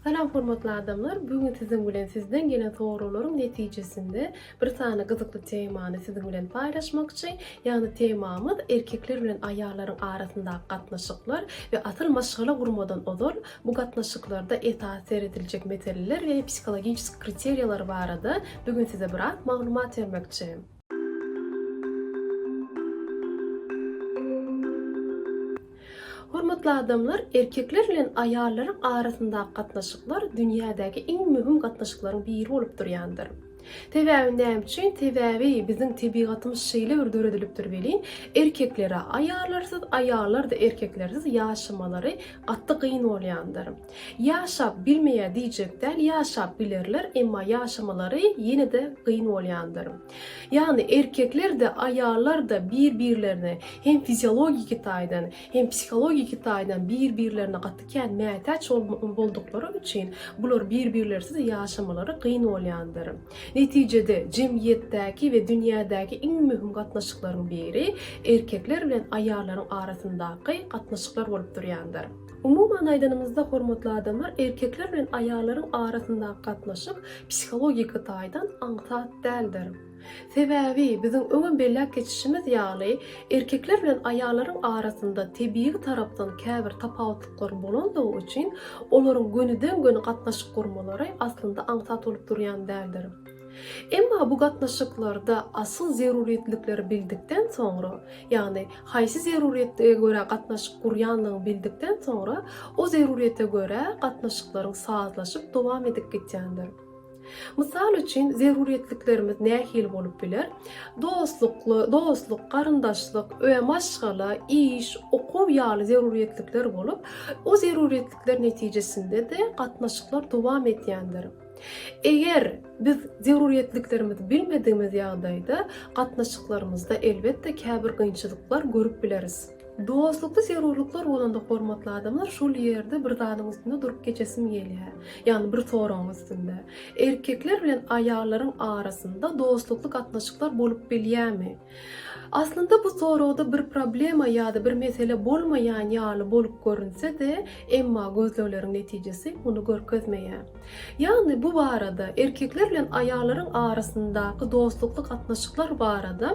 Salam hormatly adamlar, bu gün siziň bilen sizden gelen soraglaryň netijesinde bir sany gyzykly temany siziň bilen paýlaşmakçy. Ýagny temamyz erkekler bilen aýallaryň arasyndaky gatnaşyklar we asyl maşgala gurmadan ozal bu gatnaşyklarda esasy serediljek meseleler we psihologiski kriteriýalar barada bu gün size biraz maglumat bermekçi. Hormatly adamlar, erkekler bilen aýallaryň arasyndaky gatnaşyklar dünýädäki iň möhüm gatnaşyklaryň biri bolup durýandyr. Sebäbi näme üçin? Sebäbi biziň tebigatymyz şeýle bir döredilipdir welin, erkeklere aýallarsyz, aýallar-da erkeklersiz ýaşamalary gaty gyn bolýandyr. Ýaşap bilmeýär diýjek däl, ýaşap bilerler, emma ýaşamalary ýene-de gyn bolýandyr. Ýagny erkekler-de, aýallar-da bir-birlerine hem fiziologiki taýdan, hem psihologiki taýdan bir-birlerine gaty kän mätäç bolduklary üçin bular bir-birlersiz ýaşamalary gyn bolýandyr. Netijede jemgyýetdäki we dünýädäki iň möhüm gatnaşyklaryň biri erkekler bilen aýallaryň arasyndaky gatnaşyklar bolup durýandyr. Umuman aýdanymyzda hormatly adamlar erkekler bilen aýallaryň arasyndaky gatnaşyk psihologik taýdan aňsat däldir. Sebäbi biziň öňem belläp geçişimiz ýaly erkekler bilen aýallaryň arasynda tebigy tarapdan käbir tapawutlyklar bolandygy üçin olaryň gönüden göni gatnaşyk gurmalary aslynda aňsat bolup durýan däldir. Emma bu gatnaşyklarda asyl zerurýetlikleri bildikden soňra, ýagny haýsy zerurýetlige görä gatnaşyk gurýanlygyňy bildikden soňra, o zerurýete görä gatnaşyklaryň sazlaşyp dowam edip gitýändir. Mysal üçin, zerurýetliklerimiz nähili bolup biler? Dostlukly, dostluk, garyndaşlyk, öe, maşgala, iş, okuw ýaly zerurýetlikler bolup, o zerurýetlikler netijesinde-de gatnaşyklar dowam edýändir. Eger biz zerurýetliklerimizi bilmedigimiz ýagdaýda gatnaşyklarymyzda elbetde käbir gynçylyklar görüp bileris. Dostlukda zerurlyklar bolanda hormatly adamlar şol ýerde bir zadyň üstünde durup geçesim gelýär. Ýagny bir soragyň üstünde. Erkekler bilen aýallaryň arasynda dostlukly gatnaşyklar bolup bilýärmi? Aslynda bu soragda bir problema ýa-da bir mesele bolmaýan ýaly bolup görünse-de, emma gözlegleriň netijesi muny görkezmeýär. Ýagny bu barada, erkekler bilen aýallaryň arasyndaky dostlukly gatnaşyklar barada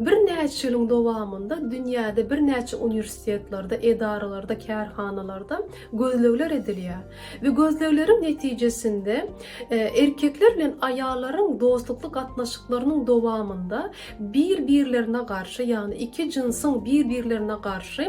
birnäçe ýylyň dowamynda dünýäde birnäçe uniwersitetlerde, edaralarda, kärhanalarda gözlegler edilýär. Bu gözlegleriň netijesinde erkekler bilen aýallaryň dostlukly gatnaşyklarynyň dowamynda bir-birlerine garşy, ýagny iki jynsyň bir-birlerine garşy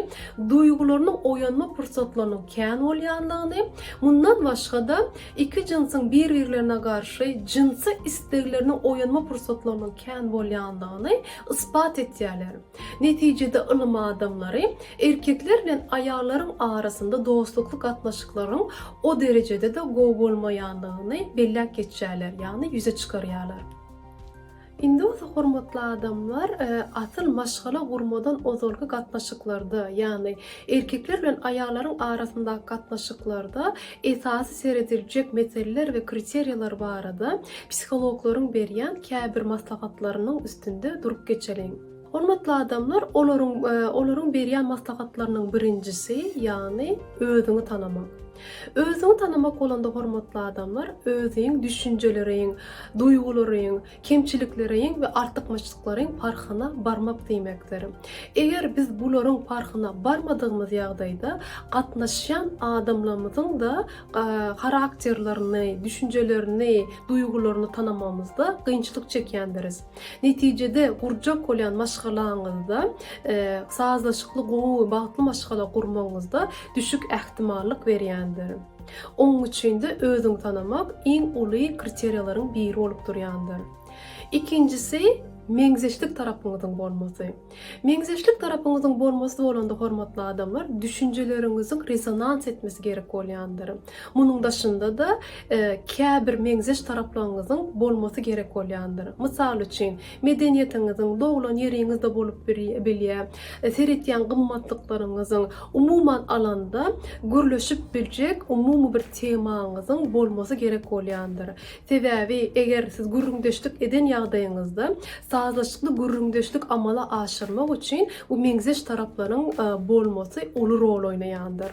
duýgularynyň oýanma pursatlarynyň kän bolýandygyny, mundan başga-da, iki jynsyň bir-birlerine garşy jynsy islegleriniň oýanma pursatlarynyň kän bolýandygyny ysbat etýärler. Netijede ylym adamlary erkekler bilen aýallaryň arasynda dostlukly gatnaşyklaryň o derejede-de gowy bolmaýandygyny belläp geçýärler, ýagny ýüze çykarýarlar. Indi bolsa hormatly adamlar, asyl maşgala gurmadan ozalky gatnaşyklarda, ýagny Erkekler bilen aýallaryň arasyndaky gatnaşyklarda esasy serediljek meseleler we kriteriýalar barada psihologlaryň berýän käbir maslahatlarynyň üstünde durup geçeliň. Hormatly adamlar, olaryň olaryň berýän maslahatlarynyň birinjisi, ýagny özüňi tanamak. Özüňi tanamak bolanda hormatly adamlar, özüň düşünjeleriň, duýgularyň, kemçilikleriň we artykmaçlyklaryň parhyna barmak diýmekdir. Eger biz bularyň parhyna barmadygymyz ýagdaýda gatnaşýan adamlarymyzyň-da harakterlerini, düşünjelerini, duýgularyny tanamagymyzda kynçylyk çekýändiris. Netijede gurjak bolýan maşgalaňyzda sazlaşykly, gowy we bagtly maşgala gurmagyňyzda düşük ähtimallyk berýändir. Onuň üçin-de özüňi tanamak iň uly kriteriýalaryň biri bolup durýandyr. Ikinjisi, meňzeşlik tarapyňyzyň bolmasy. Meňzeşlik tarapyňyzyň bolmasy bolanda, hormatly adamlar, düşünjeleriňiziň rezonans etmesi gerek bolýandyr. Munuň daşynda-da, käbir meňzeş taraplaryňyzyň bolmasy gerek bolýandyr. Mysal üçin, Medeniýetiňiziň, doglan ýeriňizde bolup bilýär, seretýän gymmatlyklaryňyzyň, umuman alanda, gürleşip biljek umumy bir temaňyzyň bolmasy gerek bolýandyr. Sebäbi, eger siz gürrüňdeşlik eden ýagdaýyňyzda, sazlaşykly gürrüňdeşlik amala aşyrmak üçin bu meňzeş taraplaryň bolmasy uly rol oýnaýandyr.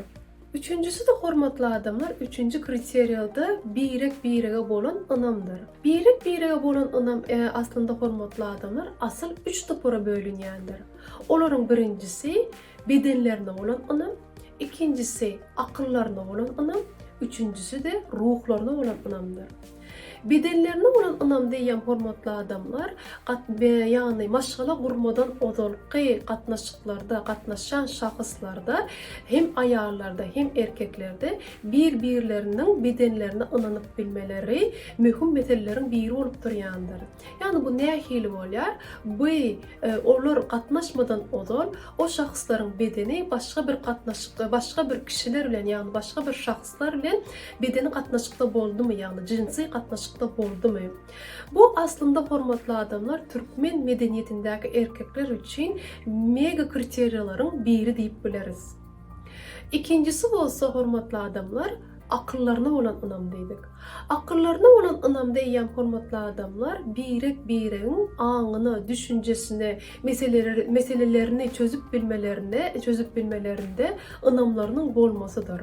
Üçünjisi-de hormatly adamlar, üçünji kriteriýada birek-birege bolan ynamdyr. Birek-birege bolan ynam e, aslynda hormatly adamlar asyl üç topara bölünýändir. Olaryň birinjisi bedenlerine bolan ynam, ikinjisi akyllaryna bolan ynam, üçünjisi-de ruhlaryna bolan ynamdyr. Bedenlerine bolan ynamda eýýäm hormatly adamlar gat be ýagny maşgala gurmadan ozalky gatnaşyklarda gatnaşýan şahyslarda hem aýallarda hem erkeklerde bir birleriniň bedenlerine ynanyp bilmeleri möhüm meseleleriň biri bolup durýandyr. Ýagny bu nähili bolýar? Bu e, olar gatnaşmadan ozal o şahslaryň bedeni başga bir gatnaşykda başga bir kişiler bilen ýagny başga bir şahs Gyzlar bilen bedeni gatnaşykda boldumy, ýagny jinsy gatnaşykda boldumy? Bu aslynda hormatly adamlar türkmen medeniýetindäki erkekler üçin mega kriteriýalaryň biri diýip bileris. Ikinjisi bolsa hormatly adamlar akyllaryna bolan ynam diýdik. Akyllaryna bolan ynam diýýän hormatly adamlar birek biregiň aňyna, düşünjesine, meselelerini çözüp bilmelerine, çözüp bilmelerinde ynamlarynyň bolmasydyr.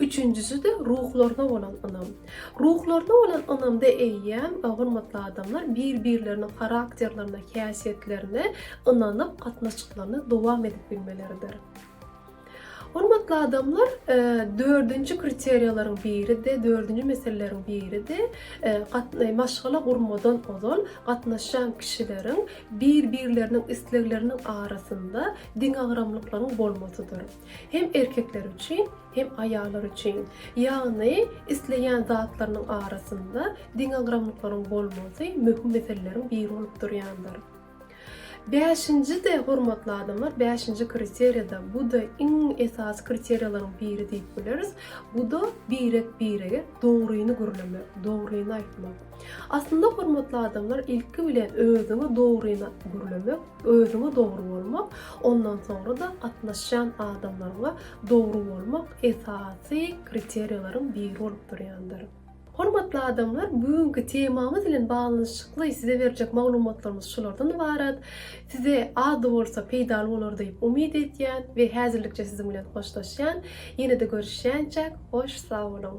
Üçünjisi-de ruhlaryna bolan ynam. Ruhlaryna bolan ynamda eýýäm, hormatly adamlar, bir-birleriniň harakterlerine, häsiýetlerine ynanyp, gatnaşyklaryny dowam edip bilmeleridir. Hormatly adamlar, e, dördünji kriteriýalaryň biri-de, dördünji meseleleriň biri-de, e, gatna maşgala gurmadan ozal gatnaşan kişileriň bir-birleriniň islegleriniň arasynda deňagramlyklaryň bolmasydyr. Hem erkekler üçin, hem aýallar üçin. Ýagny, isleýän zatlarynyň arasynda deňagramlyklaryň bolmagy möhüm meseleleriň biri bolup durýandyr. Bäşinji-de, hormatly adamlar, bäşinji kriteriýa-da, bu-da iň esasy kriteriýalaryň biri diýip bileris, bu-da birek-birege dogryny gürlemek, dogryny aýtmak. Aslynda hormatly adamlar ilki bilen özüňi dogryna gürlemek, özüňe dogry bolmak, ondan soňra da gatnaşýan adamlaryňa dogry bolmak esasy kriteriýalaryň biri bolup durýandyr. Hormatly adamlar, bu günki temamyz bilen baglanyşykly size berjek maglumatlarymyz şulardan ybarat. Size az-da bolsa peýdaly bolar diýip umyt edýän we häzirlikçe siziň bilen hoşlaşýan. Ýene-de görüşýänçäk, hoş sag boluň!